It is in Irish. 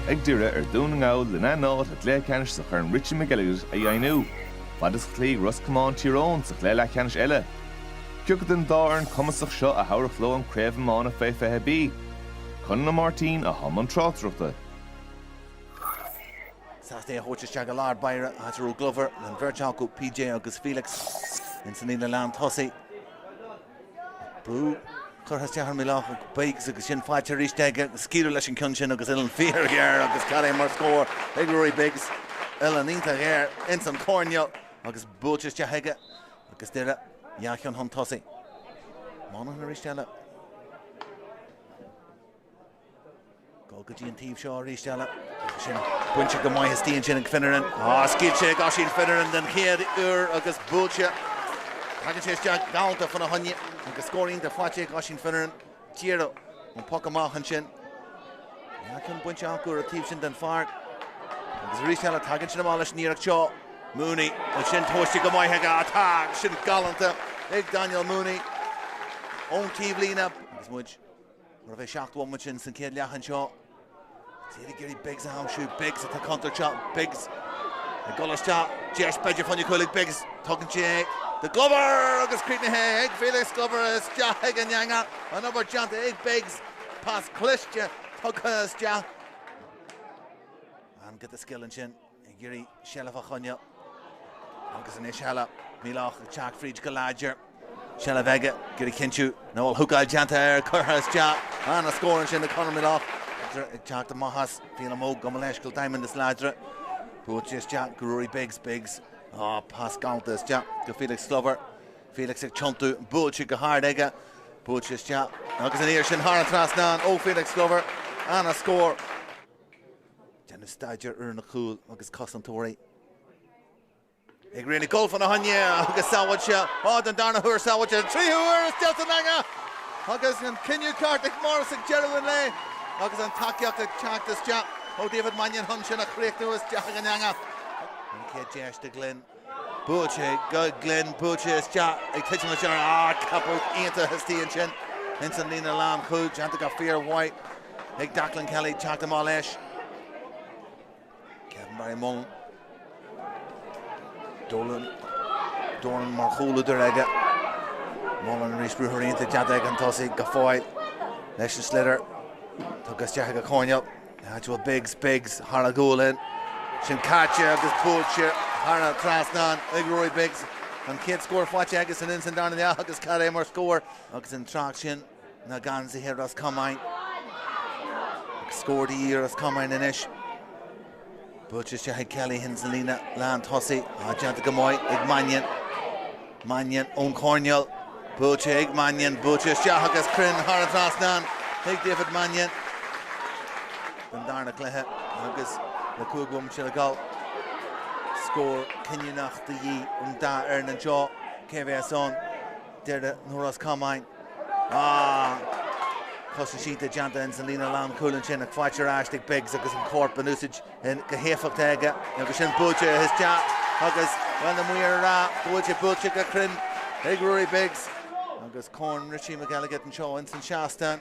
ag Doire ar Dhún na nGall lena n-áit sa gcluiche ceannais sa Chorn Richie McElligott a dheimhniú. Fad is a chloígh Ros Comáin Tír Eoghain sa chluiche leathcheannais eile, cé acu den dá fhoireann cumasach seo a thabharfadh leo an Craobh Iomána Fé 20B, Conall Ó Máirtín i mbun na tráchtaireachta. Sliotar á thabhairt isteach i lár báire, i dtreo Glover, an bheirt acu, PJ agus Felix, ins an líne lán tosaigh. Brú curtha isteach ar Melaugh ag Biggs agus sin faighte arís aige ag scaoileadh leis an gceann sin agus uillinn fíorghéar agus cad é mar scór ag Ruairí Biggs. Uillinn iontach ghéar ins an choirnéal agus buailte isteach aige agus Doire dhá cheann chun tosaigh. Monaghan arís eile. Dul go dtí an taobh seo arís eile. Tá sin bainte go maith istigh ansin ag Finneran. Scaoilte ag Oisín Finneran den chéad uair agus buailte. Tagann sé isteach galanta fána choinne agus scór iontach faighte ag Oisín Finneran. Díreach ón poc amach ansin. Dhá cheann bainte acu ar an taobh sin den pháirc. Agus arís eile tagann sin amach leis an iarracht seo. Mooney, ansin tomhaiste go maith aige. Tá sin galanta ag Daniel Mooney ón taobhlíne. Agus muid. Mar a bheadh seacht bhomaite ins an céad leath anseo tá siad ag iarraidh Biggs a aimsiú. Biggs, tá contúirt anseo. Biggs ag dul isteach. Deis b'fhéidir fá choinne cúil ag Biggs. Tugann sé é do Glover agus críochnaithe ag Felix Glover isteach ag an eanga. An obair déanta ag Biggs. Pas cliste tugtha isteach. An-ghiota scil ansin. ag iarraidh seilbh a choinneáil agus arís eile, Melaugh ag teacht fríd go láidir, seilbh aige, ag iarraidh cinntiú nach bhfuil húcáil déanta air, curtha isteach, an-scór ansin ag Conor Melaugh. Láidir ag teacht amach as, Phelim Óg gabh mo leithscéal, Diamond is láidre, buailte isteach go Ruairí Biggs, Biggs, á, pas galanta isteach go Felix Glover, Felix ag tiontú, buailte go hard aige, buailte isteach agus aniar sin thar an trasnán ó Felix Glover, an-scór. Déanamh staidéar ar na cúil agus cosantóirí ag rith ag gabháil fána choinne agus sábháilte á den darna huair, sábháilte den tríú huair isteach san eanga agus an cinneadh ceart ag Morris ag deireadh an lae agus an tacaíocht ag teacht isteach ó David Mannion chun sin a chríochnú isteach ag an eanga. An chéad deis do Glenn. Buailte go Glenn, buailte isteach ag titim isteach air, ceapadh iontach istigh ansin ins an líne lán chúl, déanta go fíor mhaith ag Declan Kelly teacht amach leis. Kevin Barry Mullan, Dolan, Doran mar chúlúdar aige, Mullan arís ruathar iontach déanta ag an tosaí go fóill leis an sliotar, tugtha isteach ag a coinneal. Joshua Biggs, Biggs thar a ghualainn. Sin caite agus buaite thar an trasnán ag Rory Biggs. An chéad scór faighte aige ins an darna leath agus cad é mar scór agus an tráth sin na geansaithe Ros Comáin. Scór de dhíth ar Ros Comáin. Buailte isteach ag Callaghan sa líne lán tosaigh. Ádh déanta go maith ag Mannion. Mannion ón choirneál. Buailte ag Mannion. Buailte isteach agus cruinn thar an trasnán ag David Mannion don darna cluiche agus le cúig bhomaite le dul. Scór cinniúnach de dhíth ar an dá fhoireann anseo. Cé a bheas ann? Doire nó Ros Comáin. Cosaint déanta ins an líne lánchúil ansin ach faighte ar ais ag Biggs agus an corp in úsaid go héifeachtach aige agus sin buailte isteach agus, bhuel, na maoir ag rá go bhfuil sé buailte go cruinn ag Ruairí Biggs. Agus corn Richie McElligott anseo ins an seastán.